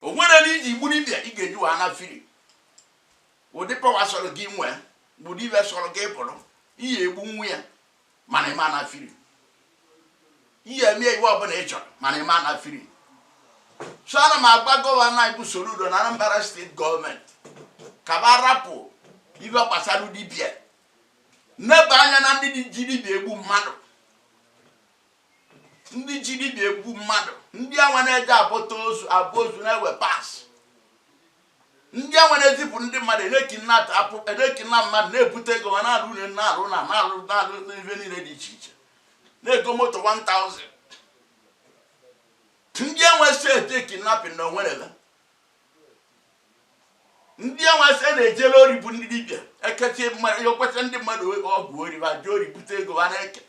o nwere na ị bụrụ dibia ị ga-eji wee naa free ụdị pawa sọrọ gị nwee bụrụ ife sọrọ gị bụrụ ị ya-egbu nwa ya mana ị ma naa free ị ya-eme ife ọbụla ị chọrọ mana ị ma naa free so ana m agwa gọvanọ anyị bụ Soludo na Anambra steeti gọọmenti ka ba rapụ ife gbasara dibia neba anya na ndị ji dibia egbu mmadụ ndị ji dibịa egbu mmadụ ndị anwa na-eje abọta ozu abọ ozu na-ewe parts ndị anwa na-ezipụ ndị mmadụ na-ekidnap mmadụ na-ebute ego ha na-alụ ụnọ na-alụ na na-alụ na-alụ n'ihe niile dị iche iche na-ego moto 1000 ndị anwa steeti kidnapping na onwerela ndị anwasị a na-ejere ori bụ ndị dibịa ekechi mmadụ okweta ndị mmadụ ọgwụ ori ba jee ori bute ego ha na-eke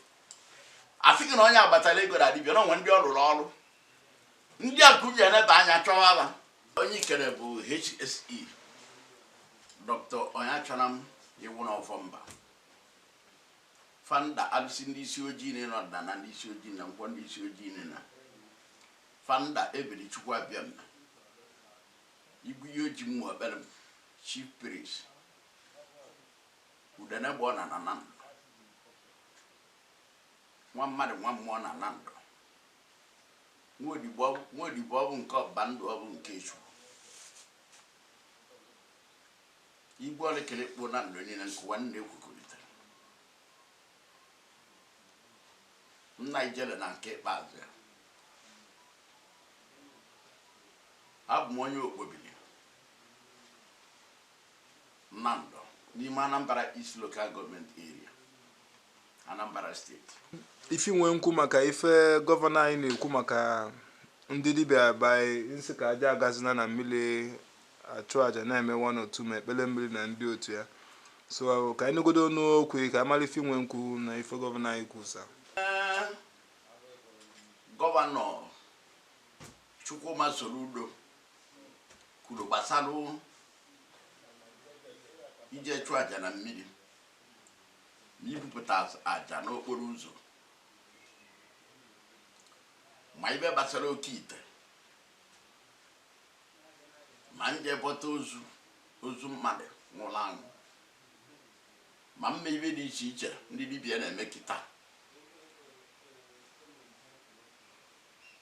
asị gị na onye a kpatara ego na dibịa na o nwe ndị ọ rụrụ ọrụ ndị a ka ba neba anya chọwa ha onye ikere bụ HSE Dr. Onyeachọnam Iwunọ Ọfọmba founder alụsị ndị isi ojii na ịnọdụna na ndị isi ojii na nkwọ ndị isi ojii na Founder Ebere Chukwu Abịama, Igwiyoji Mmụọ Ekpere m, Chief Priest, Udene gba ọna na Nando, nwa mmadụ nwa mmụọ na Nando, Nwaodibo ọ- Nwaodibo ọ bụ nke ọba ndụ ọ bụ nke Chukwu. Igwe ọlịkịlịkpụ Nando niile nkụwa nna ekwukọrịtara. nna ijele na nke ikpeazụ ya abụ m onye Okpobili Nando n'ime anambra east local government area anambra steeti ife m nwee nkwu maka ife gọvanọ anyị na-ekwu maka ndị dibịa ebe ọ sị ka aja agazina na mmiri achụ aja na-eme one or two ma ikpere mmiri na ndị otu ya so ahụ ka anyị negodo ọnụ okwu ka a mara ife m nwe nkwu na ife gọvanọ anyị kwusa gọvanọ Chukwuma Soludo kwuru gbasara ije chụọ aja na mmiri na ibupụta aja n'okporo ụzọ ma ife gbasara oke ite ma ije bọta ozu ozu mmadụ nwụrụ anwụ ma ụmụ ife dị iche iche ndị dibịa na-eme kịta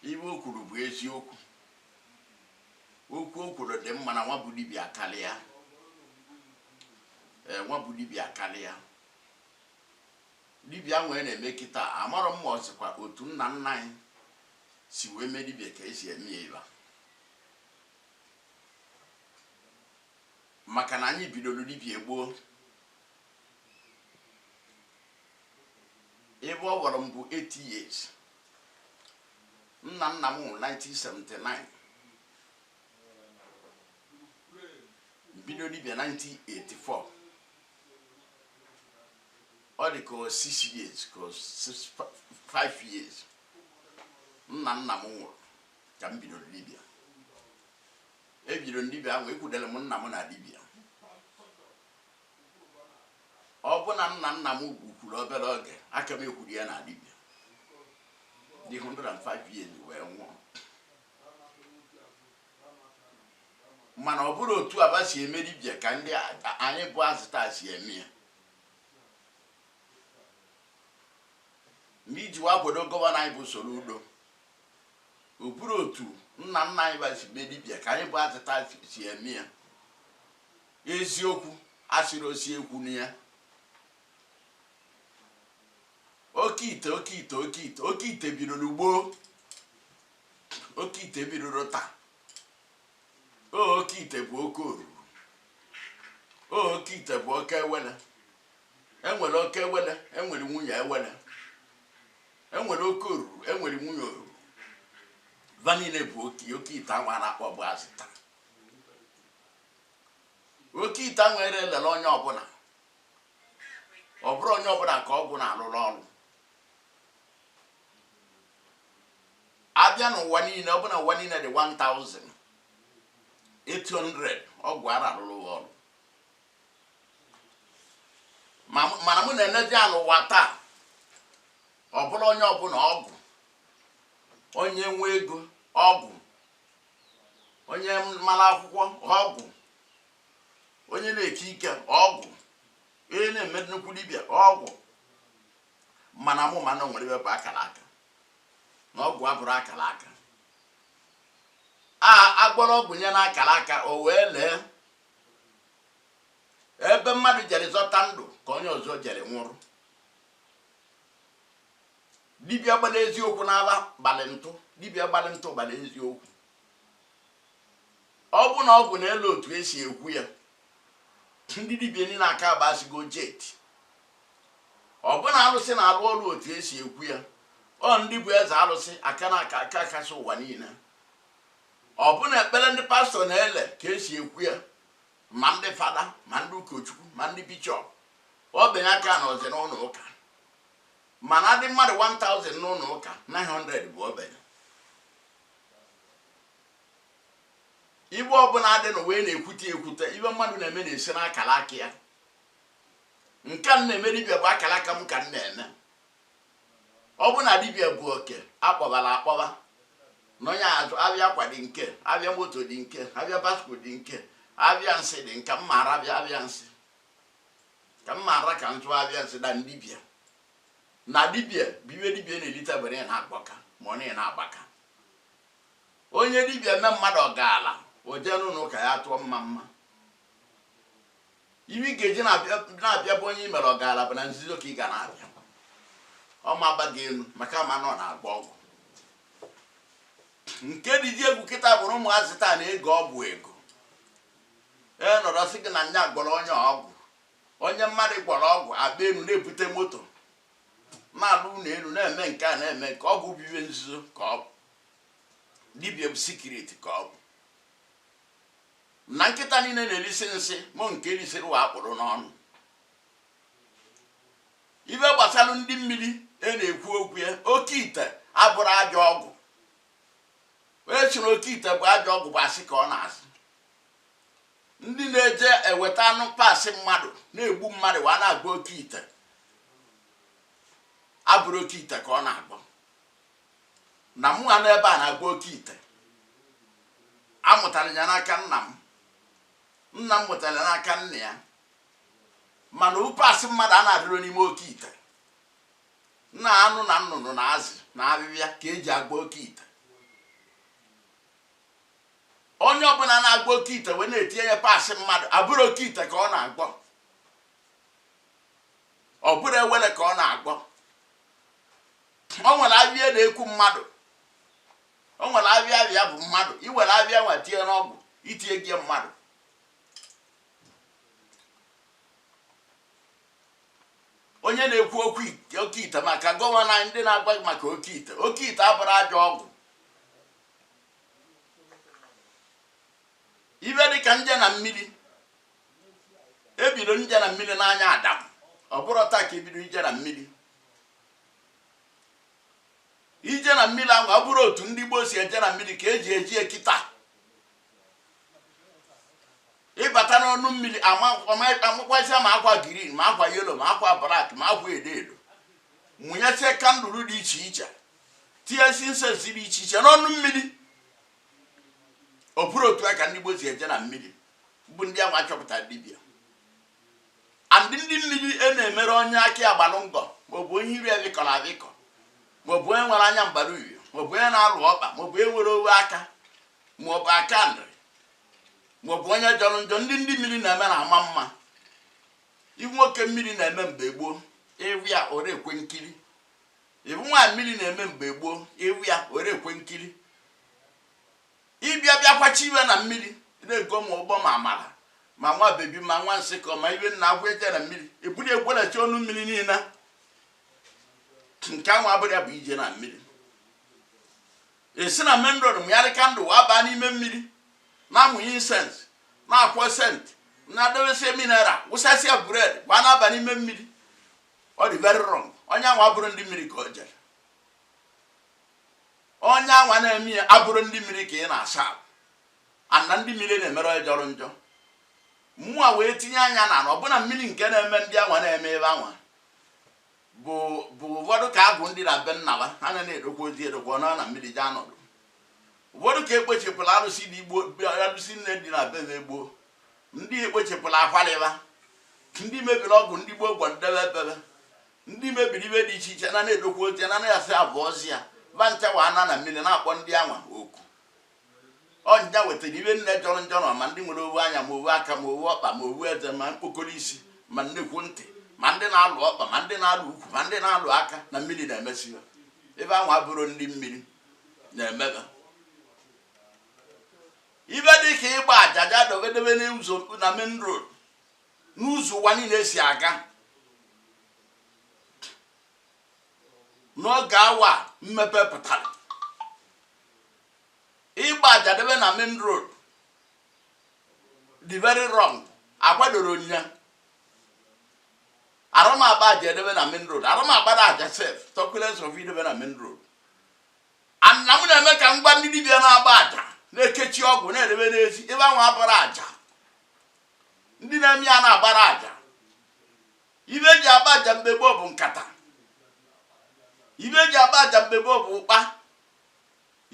ife o kwuru bụ eziokwu okwu o kwuru dị mma na nwa bụ dibịa karịa ee nwa bụ dibịa karịa dibịa wee na-eme kịta amarọ m ma ọ sịkwa otu nna nna anyị si wee mee dibịa ka esi eme ya ịba maka na anyị bidoro dibịa gboo ebe ọ gwara m bụ 8 years nna nna m nwụrụ 1979 bido dibịa 1984 ọ dị ka 6 years ka 5 years nna nna m nwụrụ ka m bidoro dibịa ebidoro m dibịa ahụ ekwudere m nna m na dibịa ọ bụ na nna nna m ugwu kwuru obere oge ka m ekwuru ya na dibịa dị 105 years wee nwụọ mana ọ bụrọ otu a ba si eme dibịa ka ndị a- anyị bụ azị taa si eme ya na iji wee kwado gọvanọ anyị bụ soludo ọ bụrọ otu nna nna anyị ba si mee dibịa ka anyị bụ azị taa si eme ya eziokwu asịrị osi ekwu na ya oke ite oke ite oke ite oke ite bidoro gboo oke ite bidoro taa o oke ite bụ oke oruru o oke ite bụ oke ewele enwere oke ewele enwere nwunye ewele enwere oke oruru enwere nwunye oruru va niile bụ oke oke ite anwa a na-akpọ bụ azị taa oke ite anwa ere elele onye ọbụla ọ bụrọ onye ọbụla ka ọgwụ na-alụrụ ọrụ a bịa n'ụwa niile ọ bụ na ụwa niile dị 1000 800 ọgwụ ara alụrụ ọrụ mana mụ na-enezi ya n'ụwa taa ọ bụrụ onye ọbụla ọgwụ onye nwe ego ọgwụ onye mara akwụkwọ ọgwụ onye na-eke ike ọgwụ onye na-eme nnukwu dibịa ọgwụ mana mụ ma na enwere ebe bụ akara aka na ọgwụ abụrọ akara aka a gwọrọ ọgwụ nye na akara aka o wee lee ebe mmadụ jere zọta ndụ ka onye ọzọ jere nwụrụ dibịa gbara eziokwu n'ala gbalị ntụ dibịa gbalị ntụ gbara eziokwu ọ bụ na ọgwụ na-ele otu esi ekwu ya ndị dibịa niile aka agbasigo jeti ọ bụ na alụsị na-alụ ọrụ otu esi ekwu ya ọ ndị bụ eze alụsị aka na aka aka kasị ụwa niile Ọ bụ na ekpere ndị pastọ na-ele ka e si ekwu ya ma ndị fada ma ndị ụkọchukwu ma ndị bishọp ogbenye aka anọzị n'ụlọ ụka mana a dị mmadụ 1000 n'ụlọ ụka 900 bụ ogbenye ife ọbụla dị n'ụwa na-ekwute ekwute ife mmadụ na-eme na-esi n'akara aka ya nke m na-eme dibịa bụ akara aka m ka m na-eme ọ bụ na dibịa bụ oke akpọbara akpọba na onye azụ abịa akwa dị nke abịa moto dị nke abịa basko dị nke abịa nsị dị nka mma ara abịa abịa nsị ka mma ara ka ntụ abịa nsị na dibịa na dibịa bụ ife dibịa na-elite bụ na na-akpọka ma ọ na na-agbaka onye dibịa mee mmadụ ọ gaara o jee n'ụlọ ụka ya tụọ mmamma ife ị ga-eji na-abịa bụ onye i mere ọ gaara bụ na nzuzo ka ị ga na-abịa ọ ma agba gị elu maka ma na ọ na-agba ọgwụ nke dịzi egwu kịta bụrụ ụmụazị taa na-ego ọgwụ ego ọ nọrọ sị gị na nya gwọrọ onye ọgwụ onye mmadụ gwọrọ ọgwụ agba elu na-ebute moto na-alụ ụlọ elu na-eme nke a na-eme nke a ọgwụ bụ ife nzuzo ka ọ bụ dibia bụ secret ka ọ bụ na nkịta niile na-erisi nsị ma nke risiri wee kpụrụ n'ọnụ ife gbasara ndị mmiri a na-ekwu okwu ya oke ite abụrọ ajọ ọgwụ onye sịrị oke ite bụ ajọ ọgwụ bụ asị ka ọ na-asị ndị na-eje eweta anụ parts mmadụ na-egbu mmadụ wee na-agba oke ite abụrọ oke ite ka ọ na-agwọ na mụwa nọ ebe a na-agba oke ite amụtara ya n'aka nna m nna m mụtara ya n'aka nna ya mana parts mmadụ adịrọ n'ime oke ite na anụ na nnụnụ na azụ na afịfịa ka e ji agba oke ite onye ọbụla na-agba oke ite wee na-etinye ya parts mmadụ abụrọ oke ite ka ọ na-agwọ ọ bụrụ ewele ka ọ na-agwọ o nwere afịfịa na-ekwu mmadụ o nwere afịfịa bụ mmadụ i were afịfịa nwa tinye n'ọgwụ i tinyego mmadụ onye na-ekwu okwu oke ite maka gọvanọ anyị ndị na-agwa gị maka oke ite oke ite abụrọ ajọ ọgwụ ife dị ka ije na mmiri e bido ije na mmiri n'anya adam ọ bụrọ taa ka e bido ije na mmiri ije na mmiri anwa abụrụ otu ndị gboo si eje na mmiri ka eji eje kịta ịbata n'ọnụ mmiri amakwazia ma akwa green ma akwa yellow ma akwa black ma akwa edo edo mụnyesie candle dị iche iche tinyesie incense dị iche iche n'ọnụ mmiri ọ bụrụ otu a ka ndị gboo si eje na mmiri bụ ndị anwa chọpụtara dibịa and ndị mmiri e na-emere onye aka gbalụ ngọ maọbụ onye iru adịkọrọ adịkọ maọbụ onye nwere anya mbara uhie maọbụ onye na-alụ ọkpa maọbụ onye nwere owu aka maọbụ aka nri maọbụ onye jọrọ njọ ndị ndị mmiri na-eme na-ama mma ị wụ nwoke mmiri na-eme mgbe gboo ị wụ ya ore ekwe nkiri ị wụ nwaanyị mmiri na-eme mgbe gboo ị wụ ya ore ekwe nkiri ịbịa bịakwachi ibe na mmiri na-ego ma ụgbọ ma amara ma nwa baby ma nwa nsịkọ ma iwe nna agwa eje na mmiri ebuli egwelachi ọnụ mmiri niile nke anwa abụrụ ya bụ ije na mmiri esi na main road mụnyarị candle wa baa n'ime mmiri na-amụnye incense na-akwọ scent na-adewesi mineral wụsasịa bread wa na-aba n'ime mmiri ọ dị very wrong onye anwa abụrụ ndị mmiri ka o jere onye anwa na-eme ya abụrụ ndị mmiri ka ị na-asa ahụ and ndị mmiri na-emere onye jọrọ njọ mmụọ wee tinye anya na ala ọbụna mmiri nke na-eme ndị anwa na-eme ebe anwa bụ bụ ụfọdụ ka abụ ndị na be nnaba ha na na-edokwa ozi edokwa ọ nọ na mmiri jee anọdụ ụfọdụ ka ekpochepụla arụsị dị igbo arụsị nne dị na be be gboo ndị ekpochepụla akwalịba ndị mebiri ọgwụ ndị gboo gwọ debe ebebe ndị mebiri ibe dị iche iche na na-edokwa oche na na-asị abụ ọzi ya ba nchawa and na mmiri na-akpọ ndị anwa oku ọ nya wetara ibe nine jọrọ njọ na ma ndị nwere owu anya ma owu aka ma owu ọkpa ma owu eze ma mkpokoro isi ma nnekwu ntị ma ndị na-alụ ọkpa ma ndị na-alụ ukwu ma ndị na-alụ aka na mmiri na-emesi ya ibe anwa abụrụ ndị mmiri na-emeba ibe dị ka ịgba aja ja-edebe n'ụzọ na main road n'ụzọ ụwa niile si aga n'oge anwa mmepe pụtara ịgba aja debe na main road dị very wrong akwadoro nya arụ m agba aja edebe na main road arụ m agbara aja sef talkless of idebe na main road and m na-eme ka m gwa ndị dibịa na-agba aja na-ekechi ọgwụ na-edebe n'ezi ibe anwa abụrụ aja ndị na-eme ya na-agbara aja ibe eji agba aja mgbe gboo bụ nkata ibe eji agba aja mgbe gboo bụ ụkpa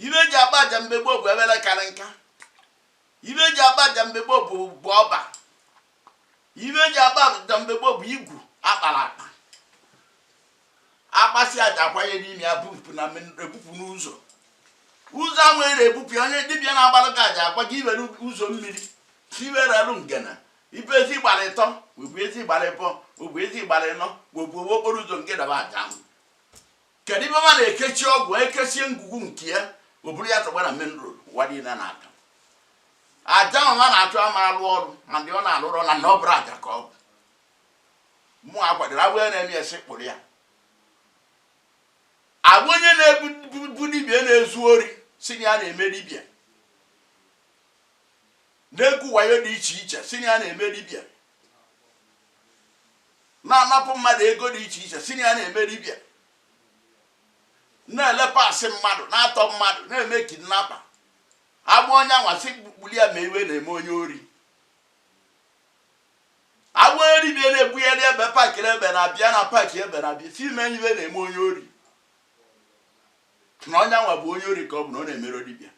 ibe eji agba aja mgbe gboo bụ ebele karị nka ibe eji agba aja mgbe gboo bụ bụ ọba ibe eji agba aja mgbe gboo bụ igu a kpara akpa akpasị aja akwanye n'ime ya bupụ na ebupụ n'ụzọ ụzọ ahụ ere ebupụ ya onye dibịa na-agbalụ gị aja agwa gị iwere ụzọ mmiri si iwere alụ ngana ibe ezi gbara ịtọ maọbụ ezi gbara ịbọ maọbụ ezi gbara ịnọ maọbụ owe okporo ụzọ nke daba aja ahụ kedu ibe ma na-ekesi ọgwụ ekesie ngwugwu nke ya o buru ya tọgbọ na main road ụwa niile na-aga aja ahụ a na-achụ ama alụ ọrụ ma ndị ọ na-alụ ọrụ na na ọ bụrụ aja ka ọ bụ mmụọ a kwadoro agwụ ya na-eme ya sị kpụrụ ya agwa onye na-ebu dibia na-ezu ori si na ya na-eme dibia na-ekwu wayo dị iche iche si na ya na-eme dibia na-anapụ mmadụ ego dị iche iche si na ya na-eme dibia na-elepasị mmadụ na-atọ mmadụ na-eme kidnapper agba onye anwa sị kpụrụ ya ma iwe na-eme onye ori agberi bịa na-ebugharị ebe pakịrị ebe na-abịa na paakị ebe na-abịa si ime ibe na-eme onye ori na onye anwa bụ onye ori ka ọ bụ na ọ na-emere dibịa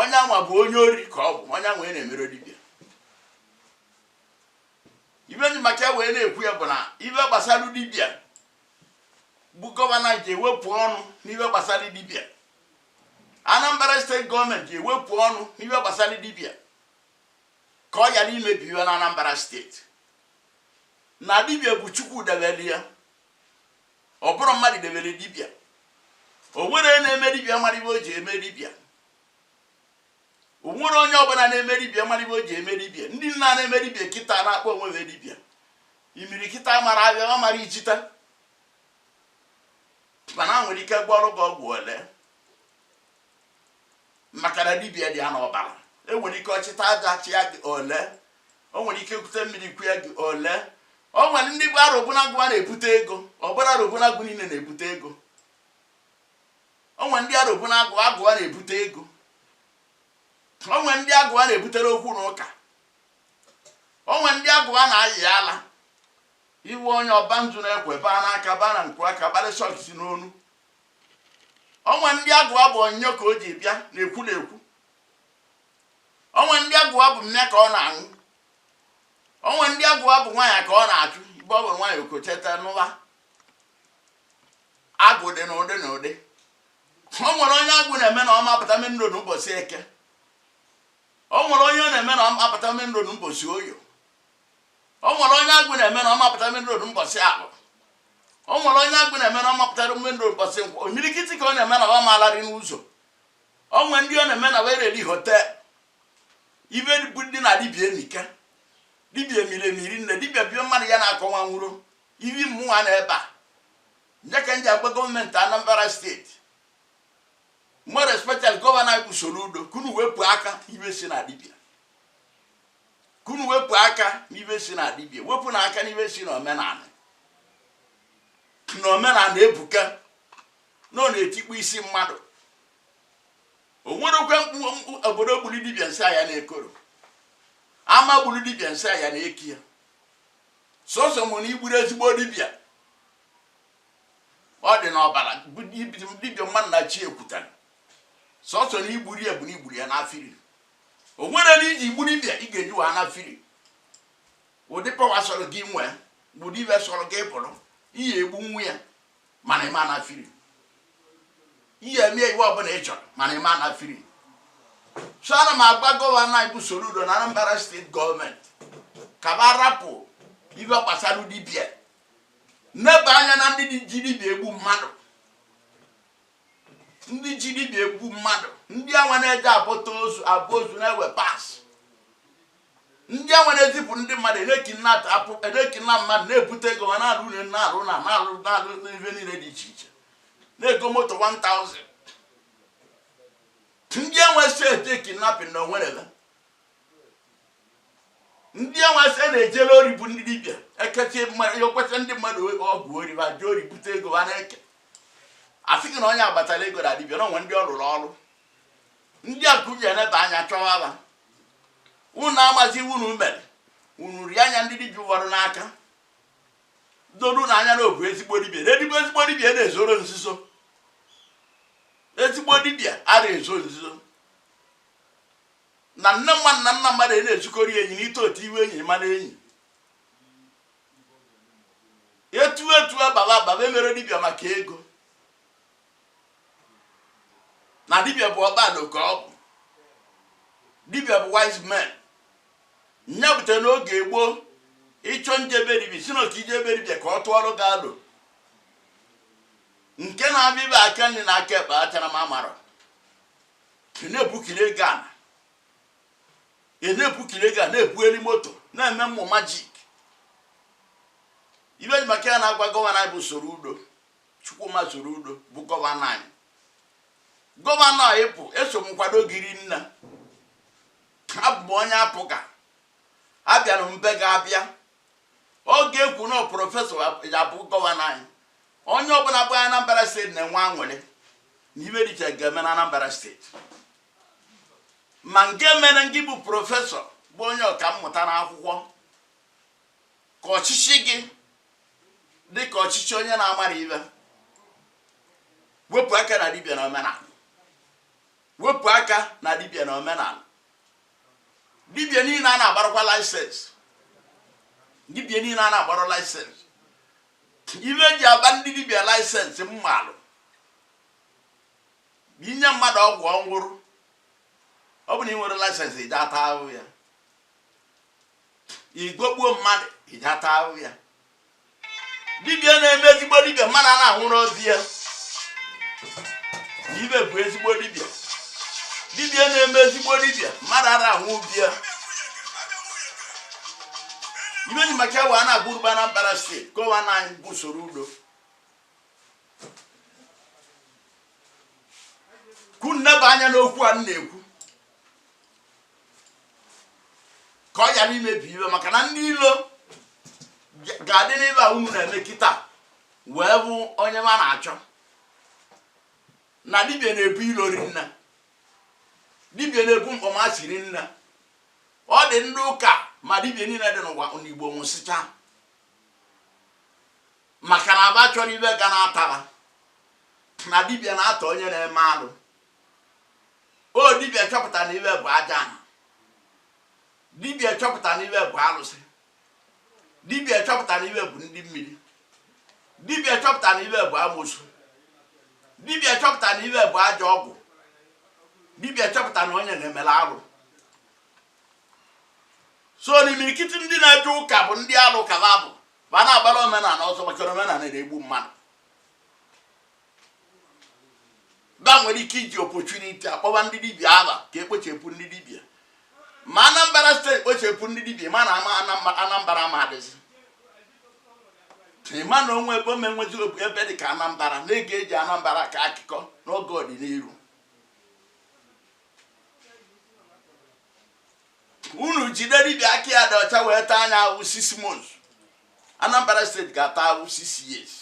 onye anwa bụ onye ori ka ọ bụ onye anwa na-emere dibịa ibe m ji maka wee na-ekwu ya bụ na ibe gbasara dibịa bụ gọvanọ je wepụ ọnụ n'ibe gbasara dibịa Anambra steeti gọọmenti je wepụ ọnụ n'ihe gbasara dibia ka ọ ghara imebi ihe na Anambra steeti na dibia bụ Chukwu debere ya ọ bụrọ mmadụ debere dibia o nwerọ onye na-eme dibia mara ibe o ji eme dibia o nwerọ onye ọbụla na-eme dibia mara ibe o ji eme dibia ndị a na-eme dibia kịta na-akpọ onwe ha dibia imirikiti amara abịa amara ijita mana ha nwere ike gwọọrụ gị ọgwụ o lee maka na dibia dị ya n'ọbara o nwere ike ọ chịta aja chịa gị o lee o nwere ike kute mmiri kua gị o lee o nwere ndị arụbụnagụ ha na-ebute ego ọ bụrọ arụbụnagụ niile na-ebute ego o nwere ndị arụbụnagụ ha na-ebute ego o nwere ndị agwụ ha na-ebutere okwu na ụka o nwere ndị agwụ ha na-ayị ala Iwe onye ọ baa nzu na-ekwe baa n'aka baa na nku aka kpalịsị ọgịsị n'ọnụ. O nwere ndị agwụ wa bụ onyinyo ka o ji bịa na-ekwu na-ekwu. O nwe ndị agwụ wa bụ mmịa ka ọ na-aṅụ. O nwe ndị agwụ wa bụ nwaanyị ka ọ na-achụ ibe ọ bụrụ nwaanyị okocheta n'ụwa. Agwụ dị n'ụdị n'ụdị. O nwere onye agwụ na-eme na ọ ma apụta mmiri ndụ n'ụbọchị eke. O nwere onye ọ na-eme na ọ ma apụta mmiri ndụ n'ụbọchị oyo. o nwere onye agwụ na-eme na ọ mapụta main road mbọsị afọ o nwere onye agwụ na-eme na ọ mapụtara main road mbọsị nkwọ imirikiti ka ọ na-eme na ọ maalari n'ụzọ o nwere ndị ọ na-eme na wee reli hotel ive bụ ndị na dibia emike dibia emiri emiri nne dibia bie mmadụ ya na-akọwa nwụrụ ive mmụnwa na ebe a nje ka m ji agwa gọọmenti anambra steeti more especially gọvanọ anyị bụ Soludo ka unu wepụ aka n'ive si na dibia ka unu wepụ aka n'ive si na dibia wepụnụ aka n'ive si na omenala na omenala ebuka na ọ na-etikpọ isi mmadụ o nwerekwa mkpu obodo gburu dibia nsị ya na-ekoro ama gburu dibia nsị ya na-eki ya sọsọ mụ na igburu ezigbo dibia ọ dị n'ọbara dibia mmadụ na chi ekwutara sọsọ na igburu ya bụ na igburu ya na free o nwere na iji gburu dibịa ị ga-eje wa na free ụdị pawa sọrọ gị nwee bụrụ ive sọrọ gị bụrụ ị ya-egbunwu ya mana ị ma na free ị ya-eme ive ọbụla ị chọrọ mana ị ma na free so ana m agwa gọvanọ anyị bụ Soludo na Anambra steeti gọọmenti ka ba rapụ ive gbasara dibịa neba anya na ndị ji dibịa egbu mmadụ ndị ji dibịa egbu mmadụ ndị anwa na-eje abọta ozu abọ ozu na-ewe parts ndị anwa na-ezipụ ndị mmadụ na mmadụ na-ebute ego ha na-alụ ụnọ na-alụ na na-alụ na-alụ n'ihe niile dị iche iche na-ego moto 1000 ndị anwa steeti kidnapping na onwerele ndị anwasị a na-ejere ori bụ ndị dibịa ekechi ekweta ndị mmadụ ọgwụ ori ba jee ori bute ego ha na-eke asị gị na onye agbatara ego na dibịa na onwe ndị ọ rụrụ ọrụ ndị a ka unu ji eneba anya chọwa ha unu amazi ive unu mere unu rie anya ndị dibịa ụfọdụ n'aka doru na anya na ọ bụ ezigbo dibịa na edigbo ezigbo dibịa na-ezoro nzuzo ezigbo dibịa a na-ezo nzuzo na nne mmadụ na nna mmadụ na-ejikọrị enyi na ite otu ive enyi mara enyi etu etu ababa ababa emere dibịa maka ego na dibịa bụ ọkpado ka ọ bụ dibịa bụ wise man nya bute n'oge gboo ịchọ nje be dibịa si na otu ije be dibịa ka ọ tụọrọ gị alo nke na-abịa ibe aka nri na aka ekpe achara ma mara ị na-ebukiri ego ana ị na-ebukiri ego a na-ebugheri moto na-eme mmụ majik ibe ji maka ya na-agwa gọvanọ anyị bụ soludo chukwuma soludo bụ gọvanọ anyị gọvanọ anyị bụ eso m nkwado gị rinna abụ m onye apga abịara m be gị abịa oge e kwu na prọfesọ ya-abụ gọvanọ anyị onye ọbụla bụ n'anambra steeti na-enwe aṅụrị na ibe dị iche ga-eme na anambra steeti ma nke mere ngị bụ prọfesọ bụ onye ọka mmụta na akwụkwọ ka ọchịchị gị dị ka ọchịchị onye na-amarọ ibe wepụ aka na dibịa na omenala wepụ aka na dibịa na omenala dibịa niile a na-agbarakwa laịsensị dibịa niile a na-agbara laịsensị ibe e ji agba ndị dibịa laịsensị malụ i nye mmadụ ọgwụ ọ nwụrụ ọ bụ na ị nwerọ laịsensị i je-ata ahụ ya ị gọgbuo mmadụ i je-ata ahụ ya dibịa na-eme ezigbo dibịa mmadụ a na-anwụrọ be ya ibe bụ ezigbo dibịa dibịa na-eme ezigbo dibịa mmadụ ara anwụ be ya ibe ji maka ya wee na-agwa unu bụ anambra steeti gọvanọ anyị bụ soludo ka unu neba anya n'okwu a m na-ekwu ka ọ ghara imebi ibe maka na ndị ilo ga- ga-adị n'ibe a unu na-eme kịta wee bụ onye ma na-achọ na dibịa na-ebu ilo rinna dibịa na-ebu mkpọmasị rinna ọ dị ndị ụka mma dibịa niile dị n'ụwa n'igbo nwụsịcha maka na ba achọrọ ibe ga na-atara na dibịa na-ata onye na-eme alụ ọ dibịa chọpụta na ibe bụ aja ana dibịa chọpụta na ibe bụ alụsị dibịa chọpụta na ibe bụ ndị mmiri dibịa chọpụta na ibe bụ amosu dibịa chọpụta na ibe bụ ajọ ọgwụ dibịa chọpụta na onye na-emela arụ so n'imirikiti ndị na-eje ụka bụ ndị alụ ka ba bụ ba na-agbara omenala ọsọ maka omenala na-egbu mmadụ ba nwere ike iji opportunity a kpọba ndị dibịa aba ka e kpochepụ ndị dibịa ma anambra steeti kpochepụ ndị dibịa ma na ama anambra ma adịzi mma na o nwe ebe ọ ma nwezi ebe dị ka anambra na a ga-eji anambra akọ akụkọ n'oge ọdịnihu unu jide dibịa aka ya dị ọcha wee taa nya awụ six months anambra steeti ga-ata awụ six years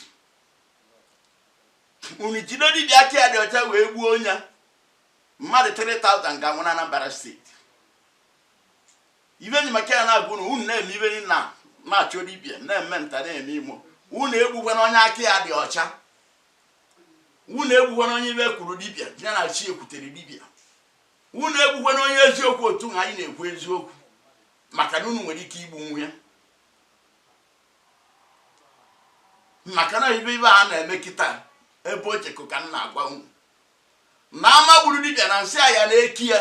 unu jide dibịa aka ya dị ọcha wee gbuo ya mmadụ 3000 ga-anwụ na Anambra steeti ive m ji maka ya na-agwa unu unu na-eme ive na na-achọ dibịa na-eme nta na-eme imo unu egbukwana onye aka ya dị ọcha unu egbukwana onye ive kwuru dibịa ya na chi ekwutere dibịa unu egbukwana onye eziokwu otu na anyị na-ekwu eziokwu maka na unu nwere ike igbu ya maka na ive ive a na-eme kịta ebe o jekọ ka m na-agwa unu na ama gburu dibịa na nsị ya na-eki ya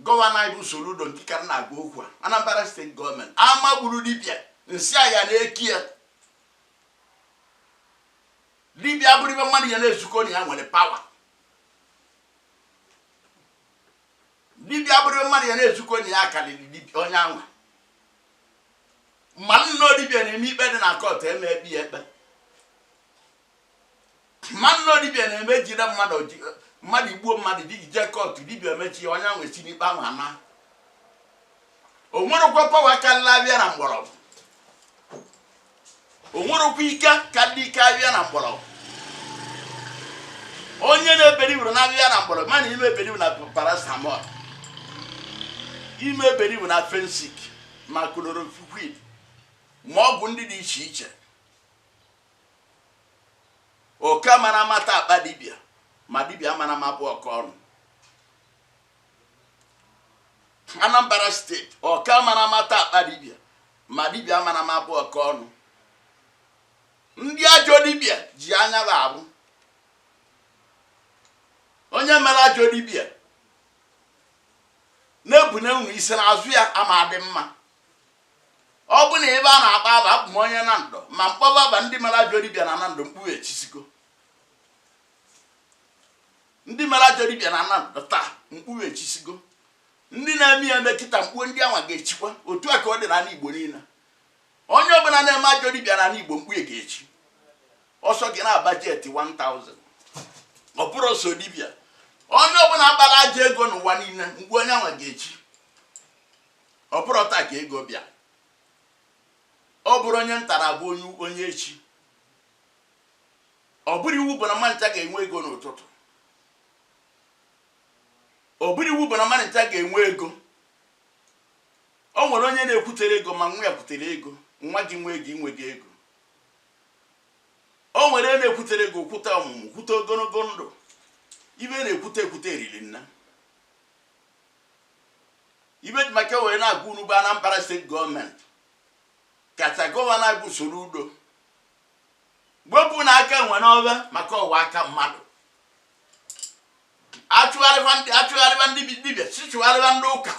gọvanọ anyị bụ Soludo nke ka m na-agwa okwu a Anambra steeti gọọmenti ama gburu dibịa nsị ya na-eki ya dibịa abụrọ ive mmadụ ya na-ezukọ na ya nwere pawa dibịa abụrọ mmadụ ya na-ezukọ na ya akarịrị dibịa onye anwa ma na ọ dibịa na-eme ikpe dị na kọt eme ekpe ya ekpe ma na ọ dibịa na-eme jide mmadụ ji- mmadụ egbuo mmadụ dị jee kọt dibịa emechie ya onye anwa esi n'ikpe ahụ anaa o nwerọkwa pawa karịrị ahịhịa na mgbọrọgwụ o nwerọkwa ike karịrị ike ahịhịa na mgbọrọgwụ onye na-ebelieverọ na ahịhịa na mgbọrọgwụ ma na ị ma-ebelieve na paracetamol ị ma-ebelieve na Phensic ma chloroquine ma ọgwụ ndị dị iche iche oke amana ụma ata akpa dibịa ma dibịa amana ụma abụ oke ọnụ Anambra steeti oke amana ụma ata akpa dibịa ma dibịa amana ụma abụ oke ọnụ ndị ajọ dibịa ji anya ha ahụ onye mere ajọ dibịa na-ebune unu isi n'azụ ya ama adị mma ọ bụ na ive a na-akpọ ava abụ m onye Nando ma m kpọba ava ndị mere ajọ dibịa na Nando mkpu ha echisigo ndị mere ajọ dibịa na Nando taa mkpu ha echisigo ndị na-eme ya eme kịta mkpu ndị anwa ga-echikwa otu a ka ọ dị n'ala igbo niile onye ọbụla na-eme ajọ dibịa n'ala igbo mkpu ya ga-echi ọ sọ gị na-agba jet 1000 ọ bụrọ sọ dibịa onye ọbụla kpara ajọ ego n'ụwa niile mkpu onye anwa ga-echi ọ bụrọ taa ka ego bịa ọ bụrọ onye ntara bụ onye onye echi Ọ bụrọ iwu bụ na mmadụ ncha ga-enwe. Ọ bụrọ iwu bụ na mmadụ ncha ga-enwe ego. O nwere onye na-ekwutere ego ma nwa ya kwutere ego, nwa gị nwee ego i nwego ego. O nwere onye na-ekwutere ego kwute ọmụmụ, kwute ogologo ndụ. Ive na-ekwute ekwute eriri nne. Ive m ji maka ya wee na-agwa unu bụ Anambra steeti gọọmenti kacha gọvanọ bụ Soludo wepụnụ aka enwe n'ove maka ọ ghọọ aka mmadụ achụgharịba ndị achụgharịba ndị bi- dibịa ịchụgharịba ndị ụka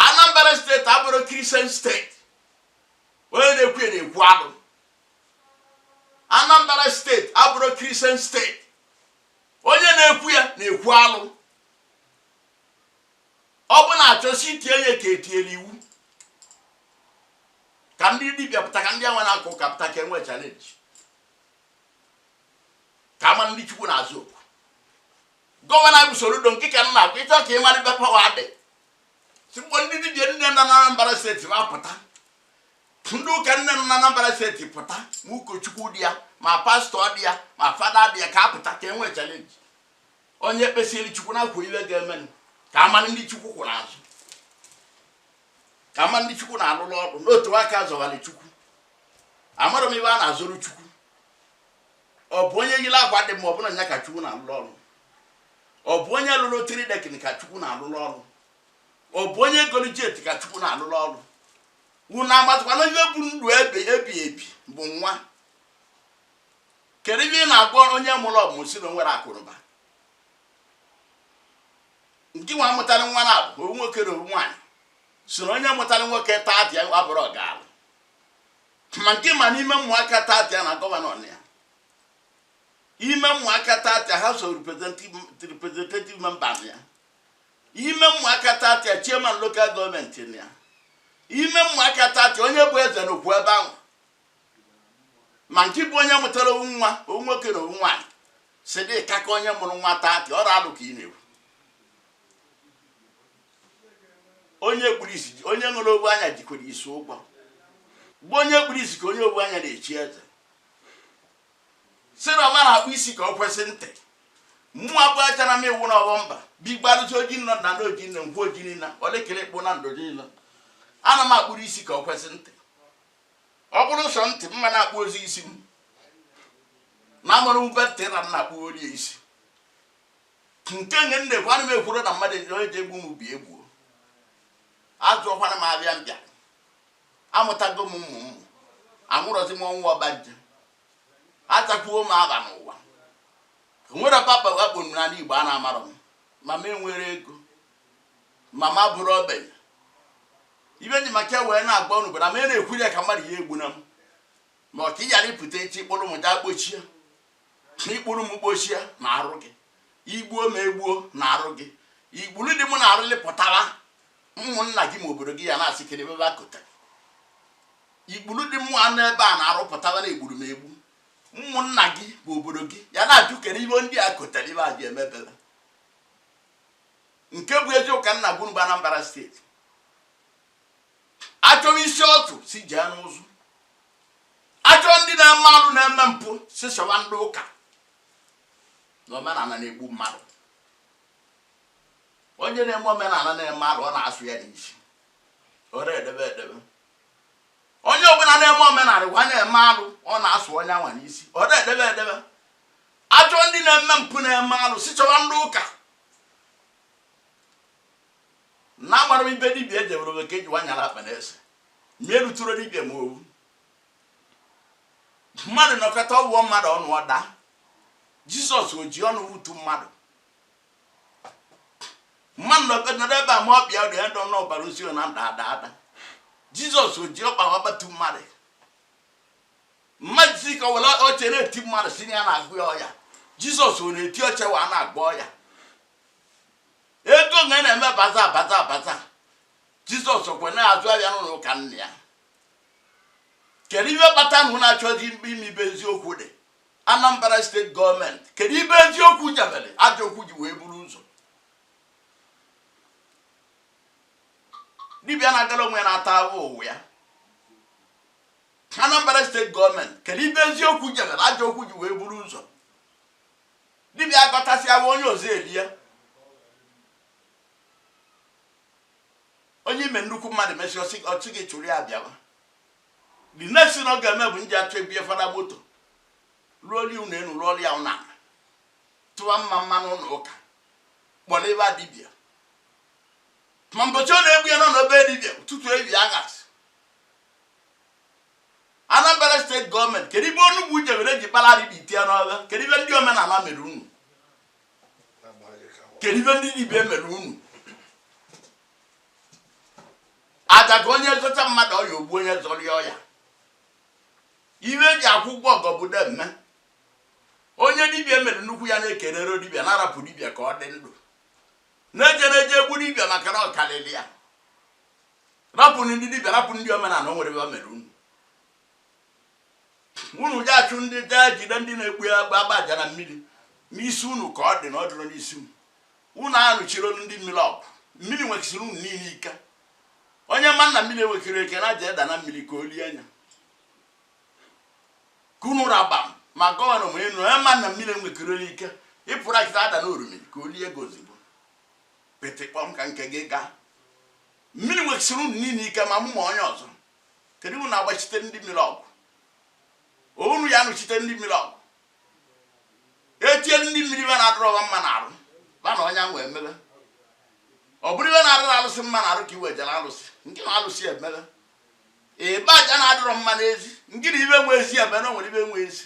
anambra steeti abụrọ kristian steeti onye na-ekwu ya na-ekwu alụ anambra steeti abụrọ kristian steeti onye na-ekwu ya na-ekwu alụ ọ bụ na a chọọ isi tie ya ka e tiere iwu ka ndị dibịa pụta ka ndị anwa na-aka ụka pụta ka e nwee chalenji ka a mara ndị chukwu na-aza oku gọvanọ bụ Soludo nke ka m na-agwa ị chọọ ka ị mara ebe pawa dị sị kpọọ ndị dibịa niine na Anambra steeti ma pụta ndị ụka niine na Anambra steeti pụta ma ụkọchukwu dị ya ma pastọ dị ya ma fada dị ya ka a pụta ka e nwee chalenji onye kpesịrị chukwu na-akwa ive ga-emenụ ka a malụ ndị chukwu kwụ n'azụ ka a malụ ndị chukwu na-alụrụ ọrụ n'otu a ka a zọgharị chukwu amarọ m ive a na-azọrọ chukwu ọ bụ onye yiri akwa dị mma bụ nya ka chukwu na-alụrụ ọrụ ọ bụ onye lụrụ three decking ka chukwu na-alụrụ ọrụ ọ bụ onye golu jet ka chukwu na-alụrụ ọrụ unu amatakwanụ ive bụ ndụ ebighị ebi bụ nwa kedu ive ị na-agwa onye mụrụ ọmụmụ sị na o nwerọ akụnụba nke nwa mụtara nwa na abụ ovu nwoke na ovu nwaanyị sị na onye mụtara nwoke tata abụrọ ọgaalụ ma nke ma n'ime ụmụaka tata na gọvanọ nọ ya ime ụmụaka tata house of representative member nọ ya ime ụmụaka tata chairman local gọọmenti nọ ya ime ụmụaka tata onye bụ eze nọkwu ebe ahụ ma nke bụ onye mụtara ovu nwa ovu nwoke na ovu nwaanyị sị dị ka ka onye mụrụ nwa taa ka ọrụ alụ ka ị na-ekwu onye kpuru isi ji- onye nwere ovu anya jikwara isi ụgwọ be onye kpuru isi ka onye ovu anya na-echi eze sị na ọ mara akpụ isi ka ọ kwesị ntị mmụọ abụọ achara m iwu n'ọghọ mba bigbarụcha oji nọ na ndị oji nne ngwa oji niile ole kere ịkpụ na ndụ niile ana m akpụrụ isi ka ọ kwesị ntị ọ bụrụ sọ ntị mma na-akpụ ozi isi m na amụrụ mgbe ntị na nna akpụ orie isi nke nye nne kwa ana m ekwuru na mmadụ ejiri onye ji egbu m bịa gbuo azụọkwara m abịa mbịa amụtago m ụmụ ụmụ anwụrọzi m ọnwụ ọgbanje atakwuo m aba n'ụwa nwere papa wakpo m n'ala igbo a na-amarọ m ma m enwere ego ma m abụrụ ogbenye ife ji maka ya wee na-agba unu bara ma ị na-ekwuru ya ka mmadụ ya egbuna m ma ọ ka ị ghara ịpụta echi ị kpụrụ m gaa kpọchie ma ị kpụrụ m kpọchie na arụ gị i gbuo m egbuo na arụ gị igburu dị mụ na arụlị pụtara ụmụnna gị ma obodo gị ya na-asị kere ebe akụta igburu dị mụ anụ ebe a na-arụ pụtara na egburu m egbu ụmụnna gị ma obodo gị ya na-ajụ kere ibe ndị a kụtara ibe a ji emebere nke bụ eziokwu ka m na-agwa unu bụ Anambra steeti achọọ isi ọchụ sị jee n'ụzụ achọọ ndị na-eme alụ na-eme mpụ sị chọwa ndị ụka na omenala na-egbu mmadụ onye na-eme omenala na-eme alụ ọ na-asụ ya n'isi ọ na-edebe edebe onye ọbụla na-eme omenala a na-eme alụ ọ na-asụ onye anwa n'isi ọ na-edebe edebe Achọọ ndị na-eme mpụ na-eme alụ sị chọwa ndị ụka na-agbara ibe dibịa edebere oge ka eji wanyara akpa na-ese ma erutụrụ dibịa ma owu mmadụ nọkata ọ wụọ mmadụ ọnụ ọ daa jizọs o ji ọnụ wụtu mmadụ mmadụ nọkata ebe a ma ọ bịa dị ya dọọ n'ọbara ozi na-ada ada ada jizọs o ji ọkpa akpatu mmadụ mmadụ sị ka ewere oche na-eti mmadụ sị na ya na-agwọ ya ọya jizọs ọ na-eti oche wee na-agwọ ọya ego nga na-eme baza baza baza jizọs kwe na-azụ afịa n'ụlọ ụka nna ya kedu ife kpata na unu achọghị ịma ibe eziokwu dị anambra steeti gọọmenti kedu ibe eziokwu jebere ajọ okwu ji wee buru ụzọ dibịa na-agara onwe ya na-ata ahụhụ ụwa ya Anambra steeti gọọmenti kedu ibe eziokwu jere ajọ okwu ji wee buru ụzọ dibịa agọtasịawa onye ọzọ elie ya onye ime nnukwu mmadụ mesịa ọchị gị chụrụ ya bịawa the next thing ọ ga-eme bụ nji achọ ebie fada moto rụọlụ ụlọ elu rụọlụ ya ụnọ tụwa mmamma n'ụlọ ụka kpọrọ ebe a dibịa ma mbọchị ọ na-egbu ya nọ na be dibịa ụtụtụ ebi anyasị Anambra steeti gọọmenti kedu ibe onugbu jebere ji kpara arịba itie n'ọgha kedu ibe ndị omenala mere unu kedu ibe ndị dibịa mere unu aja ka onye zọcha mmadụ ọya o gbuo onye zọrọ ya ọya ibe eji akwụ ụgwọ ọgọ bụ demme onye dibịa mere nnukwu ya na-ekelere dibịa na-arapụ dibịa ka ọ dị ndụ na-eje na-eje egbu dibịa maka na ọ karịrị ya rapụ ndị dibịa rapụ ndị omenala o nwerọ ibe ba mere unu unu ji achụ ndị jee jide ndị na-agba aja na mmiri n'isi unu ka ọ dị na ọ dịrọ n'isi unu unu anụchirọ ndị mmiri ọgụ mmiri nwekisiri unu niile ike onye ma na mmiri enwekirọ ike jee daa na mmiri ka o lie ya ka unu raba m ma gọvanọ ma enu onye ma na mmiri enwekirọ ike ị pụrụ kịta daa na orumiri ka o lie gị ozugbo Pịtịkpọm ka nke gị gaa. Mmiri nwekisiri unu niile ike ma mụ ma onye ọzọ. Kedu unu agbachite ndị mmiri ọgwụ? Unu ya anụchite ndị mmiri ọgwụ. Etielu ndị mmiri ibe na-adịrọ ba mma na arụ. Ba na onye anwa emebe. Ọ bụrụ ibe na-adịrọ alụsị mma na arụ ka i wejere alụsị. Ngị na alụsị emebe. Ị gbaa aja na-adịrọ mma n'ezi. Ngị na ibe nwe ezi emebe na o nwere ibe nwe ezi.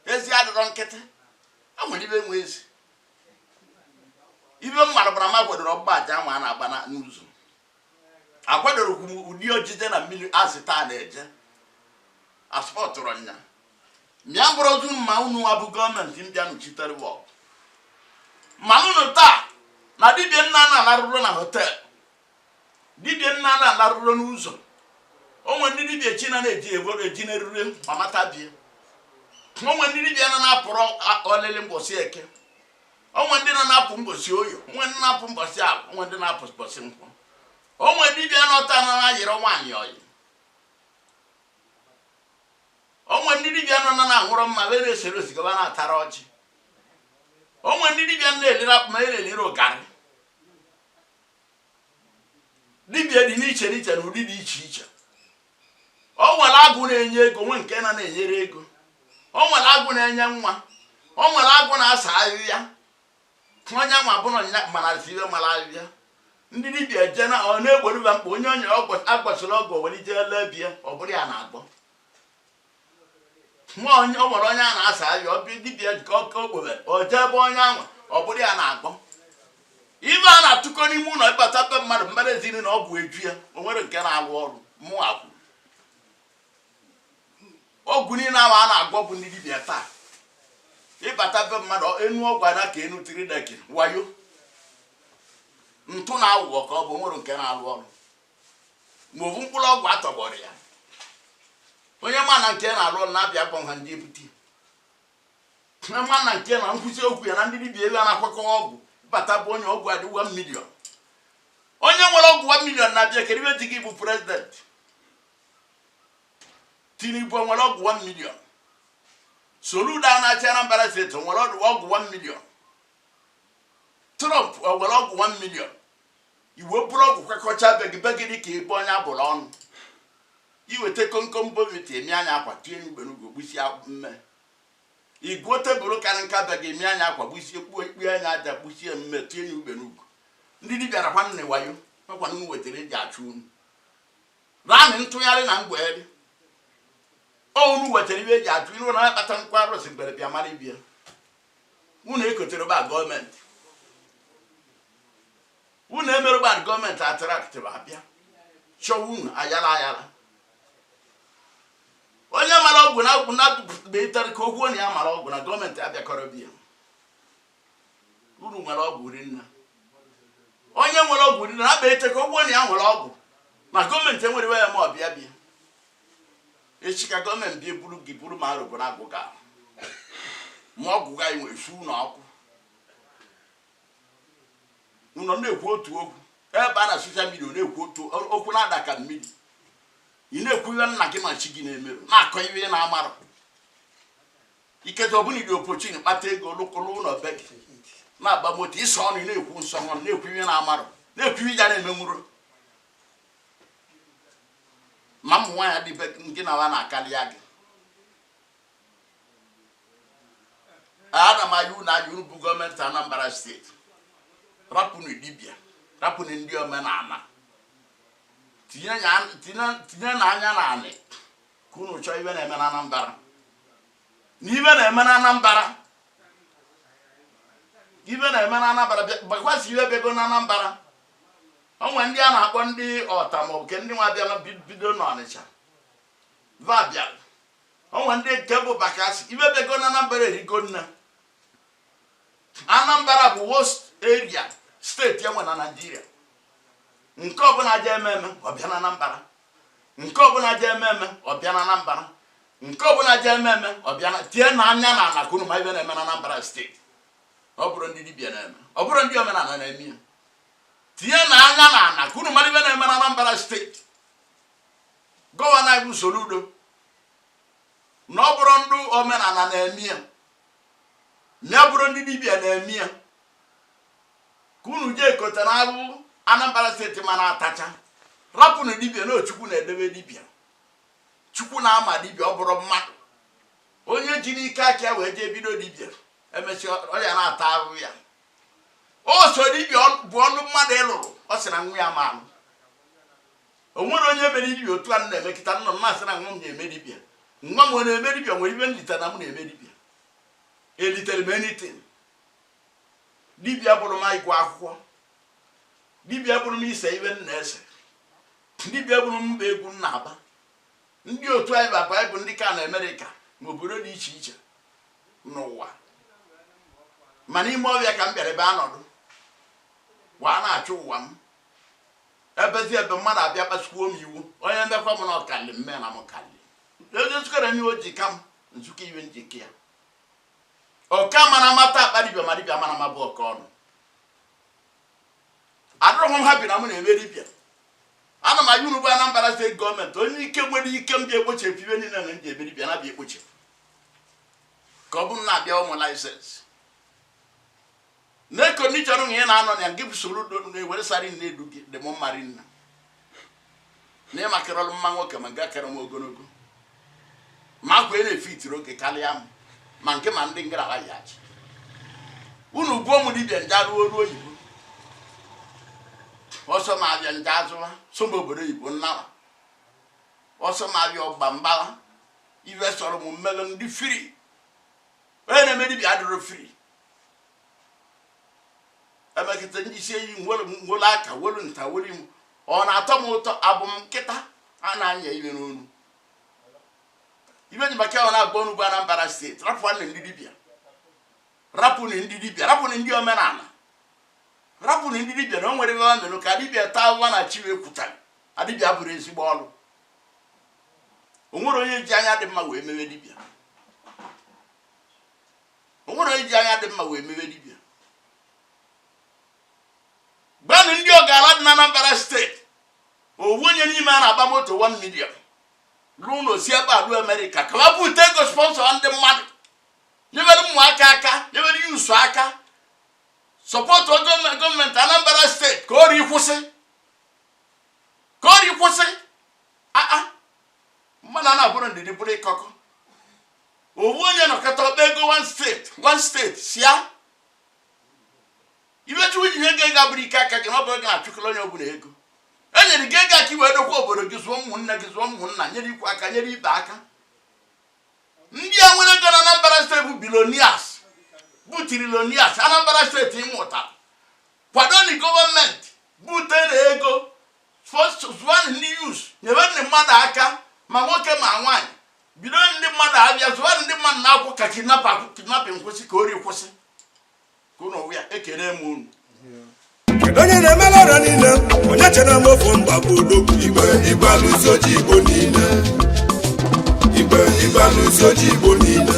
Ezi adịrọ nkịtị. O nwere ibe nwe ezi. ibe m mara bụ na m akwadorọ ọgbụgba aja ahụ a na-agba n'ụzọ akwadorọ m ụdị ojije na mmiri azị taa na-eje asọpụtụrụ nya mịa mkpụrụ ozu mma unu nwa bụ gọọmenti ndị anọchitere ma unu taa na dibia na na-alarụrọ na họteelụ dibia na na-alarụrọ n'ụzọ o nwe ndị dibia chi na na-eji egworo eji na-erure ma mata bie o nwe ndị dibia na na-apụrọ ọlịlị mbọsị eke o nwe ndị na na-apụ mbọsị oye o nwe ndị na-apụ mbọsị afọ o nwe ndị na-apụ mbọsị nkwọ o nwe dibia nọ taa na na-ayịrọ nwaanyị ọyị o nwe ndị dibia nọ na na-aṅụrọ mmanya na-eserọ sịga na-atarọ ọjị o nwe ndị dibia na-elirọ akpụ ma elirọ garị dibia dị n'iche n'iche na ụdị dị iche iche o nwere agwụ na-enye ego nwee nke na na-enyerọ ego o nwere agwụ na-enye nwa o nwere agwụ na-asa ahịa onye nwa bụrụ nya mara ibe mara ahịa ndị dibia je na ọ na-egboro ba mkpa onye onye a gwọsịrị ọgwụ were ije lee bie ọ bụrụ ya na-agwọ nwa onye o nwere onye a na-asa ahịa ọ bịa dibịa nke oke okpoghe o jee ebe onye anwa ọ bụrụ ya na-agwọ ibe a na-atụkọ n'ime ụlọ ị bata be mmadụ mmadụ ezi na ụlọ ọgwụ eju ya o nwerọ nke na-arụ ọrụ mụ akwụ ọgwụ niile ahụ a na-agwọ bụ ndị dibịa taa ị bata be mmadụ enu ọgwụ adị ka enu tiri deki wayo ntụ na aghụghọ ka ọ bụ o nwerọ nke na-arụ ọrụ ma ọ bụ mkpụrụ ọgwụ a tọgbọrọ ya onye ma na nke na-alụ ọrụ na-abịa akpọ ha ndị ebute onye ma na nke na nkwụsị okwu ya na ndị dibịa ebe a na-akwakọ ọgwụ bata bụ onye ọgwụ adị 1 million onye nwere ọgwụ 1 million na-abịa kedu ibe di gị bụ president tinubu o nwere ọgwụ 1 million soludo na-achị anambra steeti o nwere ọgwụ 1 million trump o nwere ọgwụ 1 million iwe bụrụ ọgwụ kwekọcha be gị be gị dị ka ebe onye a bụrụ ọnụ i weta komkom bournvita emi anya akwa tinye n'ugbere ugwu gbusie mme igwuo tebụl karị nka be gị emi anya akwa gbusie kpuo ikpe anya aja gbusie mme tinye n'ugbere ugwu ndị dibịa na nwanne wayo nakwa unu wetara eji achụ unu raanị ntụgharị na mgbegharị unu wetara ihe eji achụ unu na-akpata nkwa arụsị mgbere bịa mara ibia unu ekotere ba gọọmenti unu emerụbadị gọọmenti attract va bịa chọwa unu ayala ayala onye mara ọgwụ na agwụ na-agụpụtara ka o kwuo na ya mara ọgwụ na gọọmenti abịakọrọ be ya unu nwere ọgwụ rinna onye nwere ọgwụ rinna na-akpa ete ka o kwuo na ya nwere ọgwụ ma gọọmenti enwerewe ya ma ọ bịa bịa echi ka gọọmenti bịa buru gị buru ma arụbụ na agwụ ga ma ọgwụ ga efu na ọkụ nọ na-ekwu otu okwu ebe a na social media na-ekwu otu okwu na-ada ka mmiri ị na-ekwu ihe nna gị ma chi gị na-emerọ na-akọ ihe ị na-amarọ iketa ọbụla iri opochin kpata ego lụkwụrụ ụlọ be gị na-agba moto ịsọ ọnụ ị na-ekwu nsọ ọnụ na-ekwu ihe ị na-amarọ na-ekwu ihe ya na-emenwurọ ma ụmụ nwaanyị dị be gị na ha na-akarịa gị ana m ayọ unu ayọ bụ gọọmenti Anambra steeti rapụnụ dibịa rapụnụ ndị omenala tinye ya- tinye- tinyenụ anya na anị ka unu chọọ ihe na-eme na Anambra na ihe na-eme na Anambra ihe na-eme na Anambra Bakassi emebego na Anambra o nwere ndị a na-akpọ ndị ọta maọbụ ke ndị nwa bịara bi- bido n'Ọnịcha va bịara o nwe ndị nke bụ bakassi emebego na anambra erigo na anambra bụ worst area steeti e nwe na naijiria nke ọbụla je eme eme ọ bịa na anambra nke ọbụla je eme eme ọ bịa na anambra nke ọbụla je eme eme ọ bịa na tienụ anya na ala ka unu ma ihe na-eme na anambra steeti ọ bụrọ ndị dibịa na-eme ọ bụrọ ndị omenala na-eme ya tinyenụ anya na ala ka unu ma ihe na-eme na anambra steeti Gọvanọ anyị bụ Soludo na ọ bụrụ ndị omenala na-eme ya na ya bụrụ ndị dibịa na-eme ya ka unu jikọta na abụ Anambra steeti mana atacha rapụnụ dibịa na Chukwu na-edebe dibịa Chukwu na-ama dibịa ọ bụrọ mmadụ onye ji n'ike aka ya wee jee bido dibịa emesịa ọ ya na-ata ahụhụ ya ọ sọ dibịa bụ ọlụ mmadụ ịlụrụ ọ sị na nwa ya ama alụ o nwere onye mere dibịa otu a m na-eme kịta nọ m na-asị na nwa m na-eme dibịa nwa m ọ na-eme dibịa nwere ive m lita na m na-eme dibịa eliterọ m anything dibịa bụrụ m ịgụ akwụkwọ dibịa bụrụ m ise ive m na-ese dibịa bụrụ m ịgba egwu m na-agba ndị otu anyị baba anyị bụ ndị ka nọ Amerịka ma obodo dị iche iche n'ụwa mana ime ọvịa ka m bịara ebe a nọdụ wee na-achụ ụwa m Ebezi ebe mmadụ abịa kpasukwuo m iwe, onye mekwa m na ọ kalị m mee na m kalị. Ezi nzukọrọ n'ihe o ji ka m, m zukọ ive m ji ka ya. Oke amana ụma ta akpa dibịa ma dibịa amana ụma bụ oke ọnụ. Adịrọ m happy na mụ na-eme dibịa. Ana m ayọ ndị bụ Anambra steeti gọọmenti onye ike nwere ike m bịa ekpochepụ ive niile na ndị ebe dibịa na-abịa ekpochepụ ka ọ bụrụ na-abịa ụmụ laịsensị na kondishọn na ị na-anọ na ya gị soro na-ewere sari na-edu gị dị m mma rinne na ịmakịrọlụ mma nwoke ma nke kere m ogologo ma akwa ị na-efe itiri oge karịa m ma nke ma ndị ngara ya achị unu gbuo m dibịa m je alụ ọrụ oyibo ọ sọ m avịa m je azụ ọ sọ m obodo oyibo m nara ọ sọ m ịgba m gbala ive sọrọ m m mele m dị free onye na-eme dibia adịrọ free emekịta ndị isi eyi nwere aka welu nta welu imo ọ na-atọ m ụtọ abụ m nkịta a na-anya ive n'onu ibe ji maka ọ na-agba ọnụ bụ Anambra steeti rapụnụ ndị dibia rapụnụ ndị dibia rapụnụ ndị omenala rapụnụ ndị dibia na o nwere ihe ọ mere ka dibia taa ụwa na chi wee kwuta na dibịa abụrọ ezigbo ọrụ o nwere onye ji anya dị mma wee mewe dibịa o nwere onye ji anya dị mma wee mewe dibịa gbanụ ndị ọgaranya dị na Anambra steeti o nwee onye n'ime ha na-agba moto 1 million rụọ ụnọ si ebe a lue Amerịka ka ọ bute ego sponsọ ndị mmadụ nyebere ụmụaka aka nyebere youth aka sọpọtụ gọọmenti Anambra steeti ka ori kwụsị ka ori kwụsị aa mmadụ a na-abụrụ ndidi bụrụ ịkọkọ ọ wụ onye nọkọta akpa ego one steeti one steeti sia imechi nwunye ihe ego ego abụrụ ike aka gị na ọ bụ ego achụkọrọ onye ọbụla ego e nyere gị ego ka i we dokwaa obodo gị zụọ ụmụnne gị zụọ ụmụnna nyere ikwu aka nyere ibe aka ndị a nwere ego na anambra steeti bụ billionaires bụ trillionaires anambra steeti ịmụta kwadoni gọọmenti butere ego zụanụ ndị youths nyere ndị mmadụ aka ma nwoke ma nwaanyị bido ndị mmadụ afịa zụanụ ndị mmadụ n'akwụkwọ ka kidnapping kwụsị ka ori kwụsị ka ụlọ ya ekene m unu onye na-emela ọrịa niile onye chere m ofu mba bụ odogwu igbe igbe alụsi ojii igbo niile igbe igbe alụsi ojii igbo niile